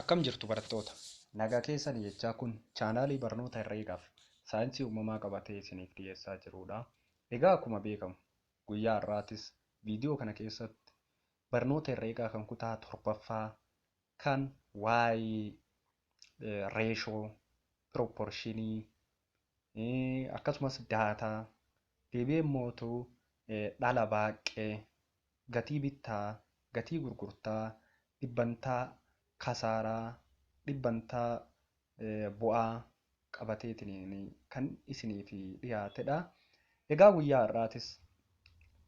Akkam jirtu barattoota? Nagaa keessani jechaa kun chaanaalii barnoota herreegaaf saayinsii uumamaa qabatee isiniif dhiyeessaa jiruudha. Egaa akkuma beekamu guyyaa har'aatis viidiyoo kana keessatti barnoota herreegaa kan kutaa torbaffaa kan waa'ee reeshoo, piroopporshinii, akkasumas daataa deebi'ee immootu dhala baaqqee gatii bittaa gatii gurgurtaa dhibbantaa kasaaraa dhibbantaa bu'aa qabateetiin kan isiniif dhiyaatedha. Egaa guyyaa har'aatis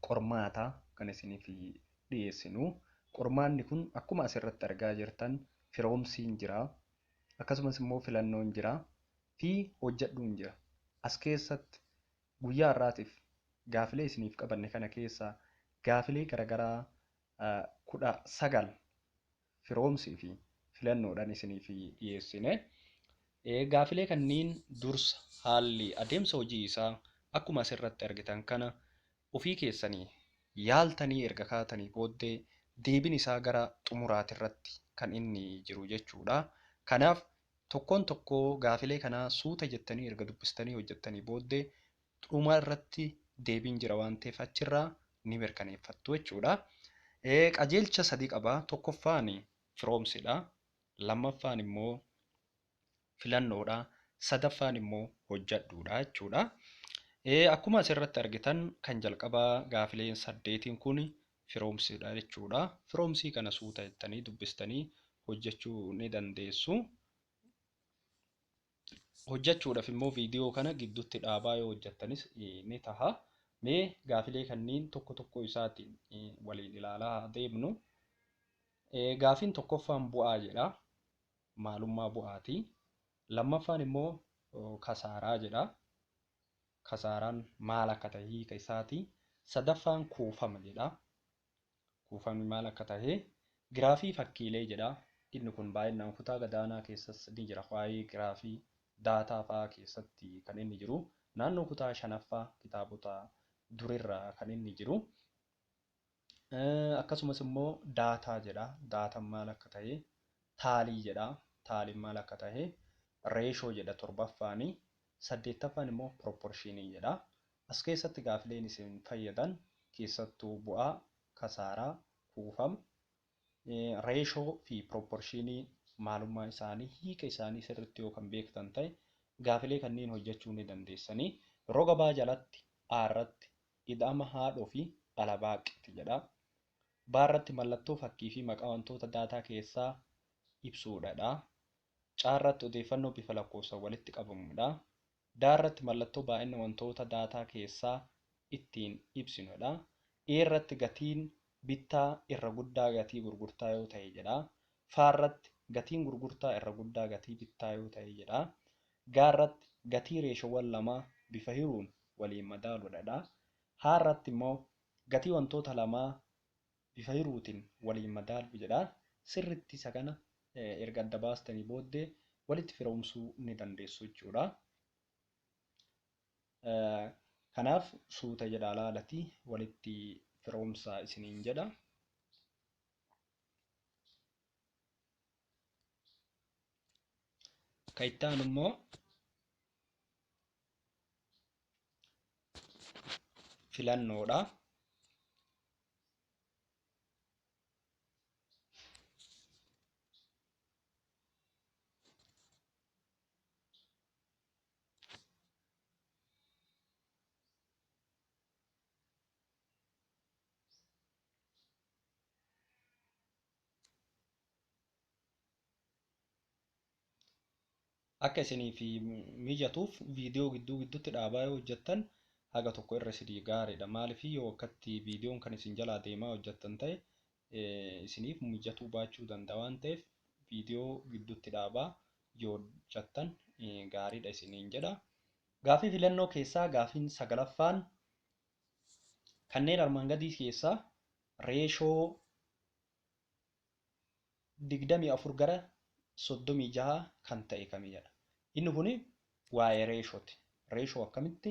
qormaata kan isiniif dhiyeessinu qormaanni kun akkuma asirratti argaa jirtan firoomsiin jira akkasumas immoo filannoon jira fi hojjadhuun jira. As keessatti guyyaa har'aatiif gaafilee isiniif qabanne kana keessaa gaafilee garagaraa 19 firoomsii fi filannoodhan isiniif dhiyeessine. Gaafilee kanniin dursa haalli adeemsa hojii isaa akkuma as irratti argitan kana ofii keessanii yaaltanii erga kaatanii booddee deebin isaa gara xumuraati irratti kan inni jiru jechuudha. Kanaaf Tokkoon tokkoo gaafilee kanaa suuta jettanii erga dubbistanii hojjettanii booddee dhuma irratti deebiin jira waan ta'eef achirraa ni mirkaneeffattu jechuudha. Qajeelcha sadii qaba. Tokkoffaan firoomsidha. Lammaffaan immoo filannoodha. Sadaffaan immoo hojjedhuudha jechuudha. Akkuma asirratti argitan kan jalqabaa gaafileen saddeetiin kun firoomsidha jechuudha. Firoomsii kana suuta jettanii dubbistanii hojjechuu ni dandeessu. Hojjechuudhaaf immoo viidiyoo kana gidduutti dhaabaa yoo hojjettanis ni taha. Mee gaafilee kanniin tokko tokko isaatiin waliin ilaalaa haa deemnu. Gaafiin tokkoffaan bu'aa jedha. Maalummaa bu'aati. Lammaffaan immoo kasaaraa jedha. Kasaaraan maal akka tahe hiika isaati. Sadaffaan kuufama jedha. Kuufamni maal akka tahe giraafii fakkiilee jedha. Inni kun baay'inaan kutaa gadaanaa keessas ni jira. Waa'ee giraafii daataa fa'aa keessatti kan inni jiru. Naannoo kutaa shanaffaa kitaabota durirraa kan inni jiru. Akkasumas immoo daataa jedha. Daataan maal akka tahe taalii jedha. Taaliin maal akka tahe reeshoo jedha torbaffaani. Saddeettaffaan immoo piropporshiinii jedha. As keessatti gaafileen isin fayyadan keessattuu bu'aa, kasaaraa, kuufama, reeshoo fi piropporshiinii maalummaa isaanii, hiika isaanii sirriitti yoo kan beektan tahe gaafilee kanneen hojjechuu ni dandeessanii. Roga B jalatti A irratti Ida'ama haadhoo fi dhala baaq ti jedha. Baa irratti mallattoo fakkii fi maqaa wantoota daataa keessaa ibsuu dha dha. Caa irratti odeeffannoo bifa lakkoofsan walitti qabamu dha. Daa irratti mallattoo baay'inna wantoota daataa keessaa ittiin ibsinu dha. Ee irratti gatiin bittaa irra guddaa gatii gurgurtaa yoo ta'e jedha. Fa irratti gatiin gurgurtaa irra guddaa gatii bittaa yoo ta'e jedha. Ga irratti gatii reeshoowwan lamaa bifa hiruun waliin madaaluudha dha. Ha irratti immoo gatii wantoota lamaa bifa hiruutiin waliin madaaluu jedha. Sirriitti isa kana erga adda baastanii booddee walitti firoomsuu ni dandeessu jechuudha. Kanaaf suuta jedha alaalati walitti firoomsa isiniin jedha. Ka itti aanu immoo filannoodha. akka isiniif mijatuuf viidiyoo gidduu gidduutti dhaabaa yoo hojjettan haga tokko irra isinii gaariidha. Maaliif yoo akkatti viidiyoon kan isin jalaa deemaa hojjettan ta'e isiniif mijatuu baachuu danda'a waan ta'eef viidiyoo gidduutti dhaabaa yoo hojjattan gaariidha isiniin jedha. Gaafii filannoo keessaa gaafiin sagalaffaan kanneen armaan gadii keessaa reeshoo 24 gara 36 kan ta'e kami jedha. Inni kun waa'ee reeshooti. Reeshoo akkamitti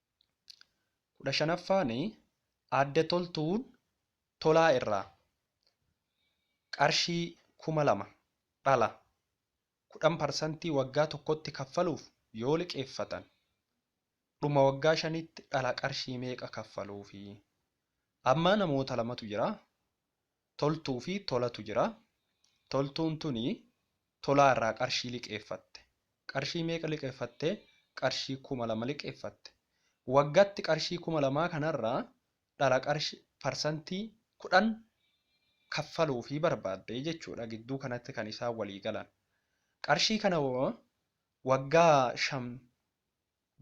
kudha shanaffaan Aadde Toltuun Tolaa irraa qarshii kuma lama dhala kudhan parsantii waggaa tokkotti kaffaluuf yoo liqeeffatan dhuma waggaa shaniitti dhala qarshii meeqa kaffaluufi? Amma namoota lamatu jira. Toltuu fi Tolatu jira. Toltuun tuni Tolaa irraa qarshii liqeeffatte. Qarshii meeqa liqeeffatte? Qarshii 2000 liqeeffatte. Waggatti qarshii 2000 kanarraa dhala qarshi parsantii 10 kaffaluufii barbaadde jechuudha. Gidduu kanatti kan isaan walii galan. Qarshii kana waggaa 5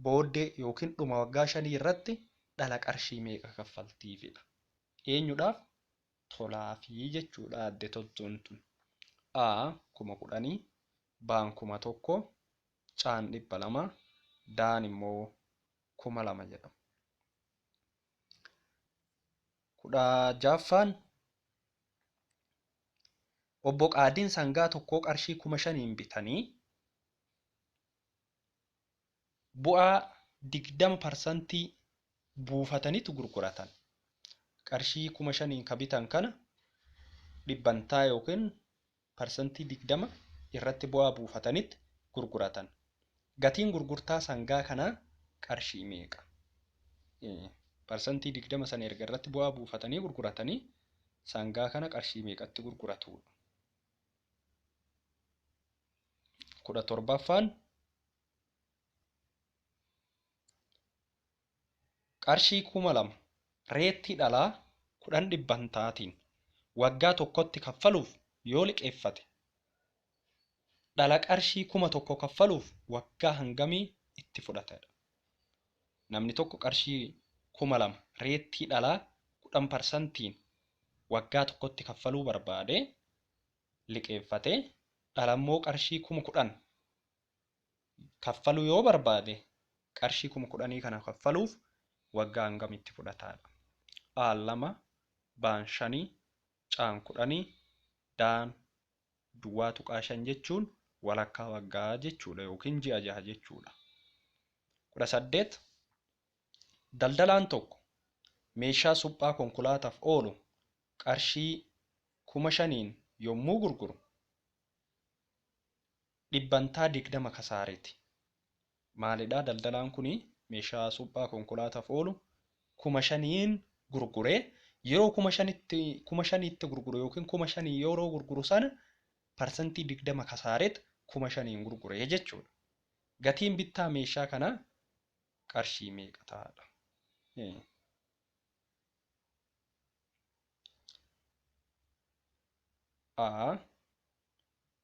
booddee yookiin dhuma waggaa 5 irratti dhala qarshii meeqa kaffaltiifidha. Eenyudhaaf tolaafi jechuudha Aadde Toltuun tun. A kuma kudhanii, Baan kuma tokko, Caan dhibba lama, Daan immoo kuma lama jedhama. kudha jaaffaan Obbo Qaadiin sangaa tokkoo qarshii kuma shaniin bitanii Bu'aa 20 parsantii buufatanitu gurguratan. Qarshii 5000n ka bitan kana dhibbantaa ykn parsantii 20 irratti bu'aa buufatanit gurguratan. Gatiin gurgurtaa sangaa kanaa qarshii meeqa? Parsantii 20 san erga irratti bu'aa buufatanii gurguratanii sangaa kana qarshii meeqatti gurguratu? 17ffaan Qarshii kuma lama reettii dhalaa kudhan dhibbantaatiin waggaa tokkotti kaffaluuf yoo liqeeffate dhala qarshii kuma tokko kaffaluuf waggaa hangamii itti fudhata? Namni tokko qarshii kuma lama reettii dhalaa kudhan parsantiin waggaa tokkotti kaffaluu barbaade liqeeffate dhalammoo qarshii kuma kudhan kaffaluu yoo barbaade qarshii kuma kudhanii kana kaffaluuf waggaa hangam itti fudhataadha. Aal lama, Baan shanii, Caan kudhanii, Daan duwwaa tuqaa shan jechuun walakkaa waggaa jechuudha yookiin ji'a jaha jechuudha. kudha saddeet Daldalaan tokko meeshaa suphaa konkolaataaf oolu qarshii kuma shaniin yommuu gurguru dhibbantaa 20 kasaareeti. Maalidhaa daldalaan kuni meeshaa suphaa konkolaataaf oolu kuma shaniin gurguree yeroo kuma shanitti kuma shaniitti gurguru yookiin kuma shanii yeroo gurguru sana parsantii 20 kasaareet kuma shaniin gurguree jechuudha. Gatiin bittaa meeshaa kanaa qarshii meeqa ta'aadha? A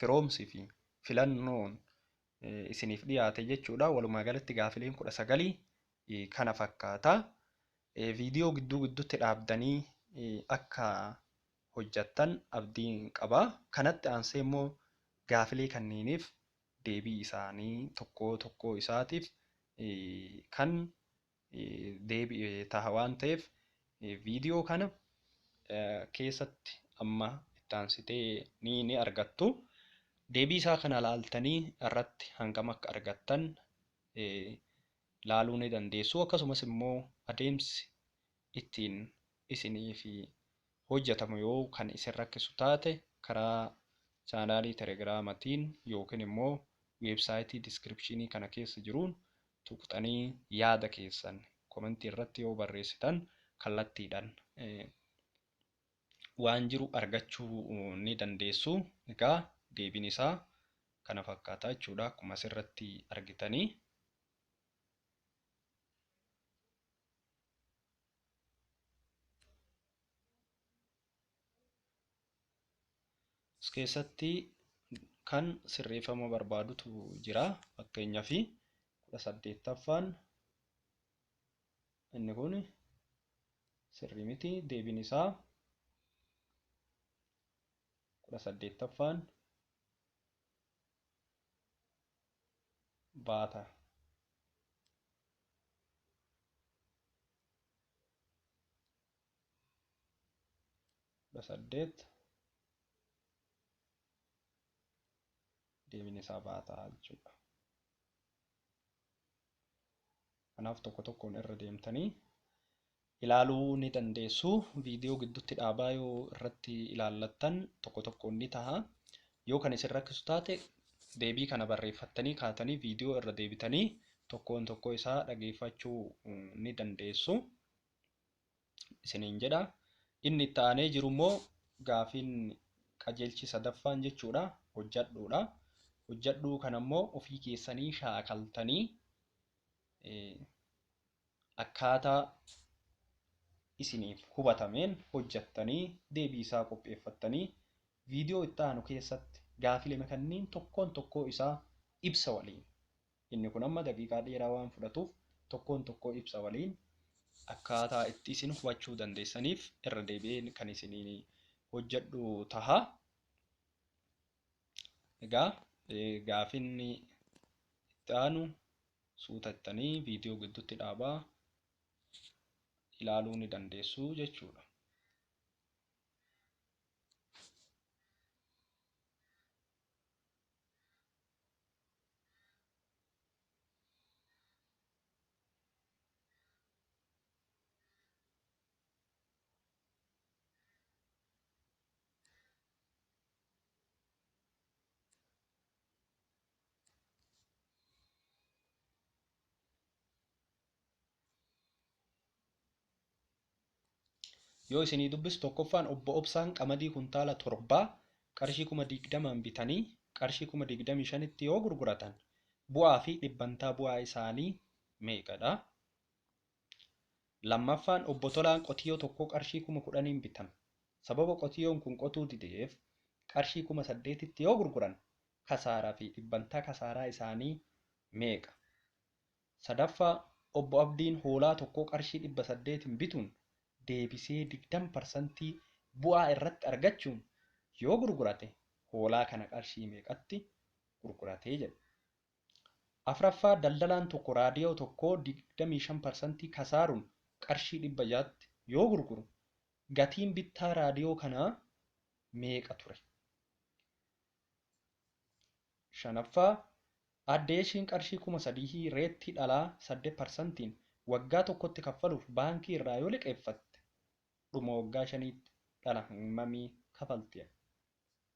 firoomsi fi filannoon isiniif dhiyaate jechuudha. Walumaa galatti gaafileen kudha sagalii kana fakkaata. Viidiyoo gidduu gidduutti dhaabdanii akka hojjattan abdiin qaba. Kanatti aansee immoo gaafilee kanneeniif deebii isaanii tokkoo tokkoo isaatiif kan deebi'e taha waan ta'eef viidiyoo kana keessatti amma ittaansitee ni ni argattu. Deebii isaa kana laaltanii irratti hangam akka argattan laaluu ni dandeessu. Akkasumas immoo adeemsi ittiin isiniif hojjatamu yoo kan isin rakkisu taate karaa chaanaalii telegiraamatiin yookiin immoo weebsaayitii diskiripshiinii kana keessa jiruun tuqxanii yaada keessan komentii irratti yoo barreessitan kallattiidhan waan jiru argachuu ni dandeessu. Egaa deebiin isaa kana fakkaata jechuudha akkuma asirratti argitanii. As keessatti kan sirreeffama barbaadutu jira. Fakkeenyaaf kudha saddeettaffaan inni kun sirrii miti deebiin isaa kudha saddeettaffaan baata. kudha saddeet deebiin isaa baataa jechuudha. Kanaaf tokko tokkoon irra deemtanii ilaaluu ni dandeessu. Viidiyoo gidduutti dhaabaa yoo irratti ilaallattan tokko tokkoon ni taha. Yoo kan isin rakkisu taate deebii kana barreeffattanii kaatanii viidiyoo irra deebitanii tokkoon tokkoo isaa dhageeffachuu ni dandeessu. Isiniin jedha. Inni itti aanee jiru immoo gaafiin qajeelchi sadaffaan jechuudha. Hojjadhuudha. Hojjadhuu kana immoo ofii keessanii shaakaltanii akkaataa isiniif hubatameen hojjattanii deebii isaa qopheeffattanii viidiyoo itti aanu keessatti gaafilema kanniin tokkoon tokkoo isaa ibsa waliin inni kun amma daqiiqaa dheeraa waan fudhatuuf tokkoon tokkoo ibsa waliin akkaataa itti isin hubachuu dandeessaniif irra deebi'een kan isiniin hojjedhu taha. Egaa gaafinni itti aanu suutattanii viidiyoo gidduutti dhaabaa ilaaluu ni dandeessu jechuudha. yoo isinii dubbisu tokkoffaan obbo Obsaan qamadii kuntaala torbaa qarshii kuma digdamaan bitanii qarshii kuma digdamii shanitti yoo gurguratan bu'aa fi dhibbantaa bu'aa isaanii meeqadha? Lammaffaan Obbo Tolaan qotiyoo tokkoo qarshii kuma kudhaniin bitan. Sababa qotiyoon kun qotuu dideef qarshii kuma saddeetitti yoo gurguran kasaaraa fi dhibbantaa kasaaraa isaanii meeqa? Sadaffaa Obbo Abdiin hoolaa tokkoo qarshii dhibba saddeetiin bituun deebisee digdama parsantii bu'aa irratti argachuun yoo gurgurate hoolaa kana qarshii meeqatti gurgurate jedhu. 4ffaa Daldalaan tokko raadiyoo tokko 25 parsantii kasaaruun qarshii 600tti yoo gurguru gatiin bittaa raadiyoo kanaa meeqa ture? 5ffaa Aadde Yeshiin qarshii 3000 reettii dhalaa 8 parsantiin waggaa tokkotti kaffaluuf baankii irraa yoo liqeeffatte dhuma waggaa shaniitti dhala hammamii kafalti?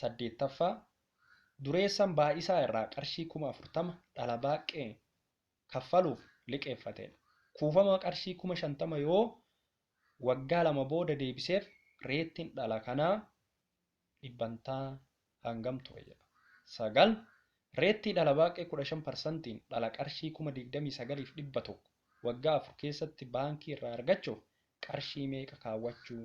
Saddeettaffaa, dureessan baay'isaa irraa qarshii kuma afurtama dhala baaqqee kaffaluuf liqeeffateen kuufama qarshii kuma shantama yoo waggaa lama booda deebiseef reettiin dhala kanaa dhibbantaa hangam ture jedha. Sagal, reettii dhala baaqqee kudha shan parsantiin dhala qarshii kuma digdamii sagaliif dhibba tokko waggaa afur keessatti baankii irraa argachuuf qarshii meeqa kaawwachuu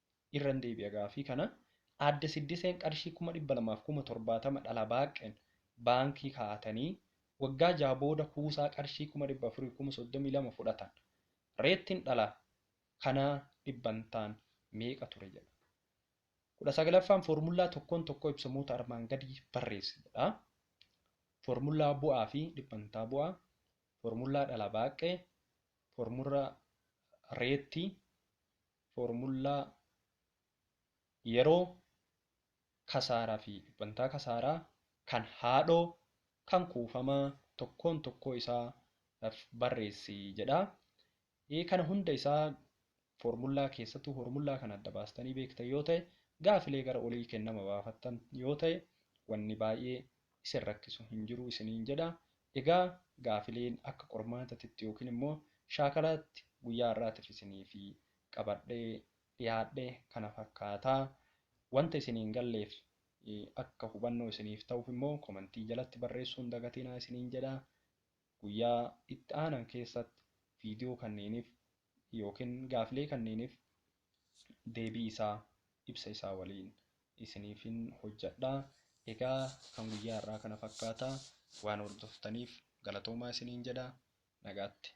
Irran deebi'a gaaffii kana. Aadde Siddiseen qarshii 200,000 fi 70,000 dhala baaqqeen baankii kaa'atanii waggaa 6 booda kuusaa qarshii 400,000 fi 32,000 fudhatan. Reettiin dhala kanaa dhibbantaan meeqa ture jedha. 19ffaan foormullaa tokkoon tokkoo ibsamoota armaan gadii barreessi jedha. Foormullaa bu'aa fi dhibbantaa bu'aa, foormullaa dhala baaqqee, foormullaa reettii, Foormullaa yeroo, kasaaraa fi dhibbantaa kasaaraa kan haadhoo kan kuufamaa tokkoon tokkoo isaa dhaf barreessi jedha. Ee kana hunda isaa foormullaa keessattuu foormullaa kana adda baastanii beektan yoo ta'e gaafilee gara olii kennama baafattan yoo ta'e wanni baay'ee isin rakkisu hin jiru isiniin jedha. Egaa gaafileen akka qormaatatitti yookiin immoo shaakalaatti guyyaa har'aatif isiniif qabadhee dhiyaadhe kana fakkaata. Wanta isin hin galleef akka hubannoo isiniif ta'uuf immoo komentii jalatti barreessuu hin dagatinaa isiniin jedha. Guyyaa itti aanan keessatti viidiyoo kanneeniif yookiin gaafilee kanniinif deebii isaa ibsa isaa waliin isiniifin hojjadha. Egaa kan guyyaa har'aa kana fakkaata. Waan hordoftaniif galatoomaa isiniin jedha. Nagaatti.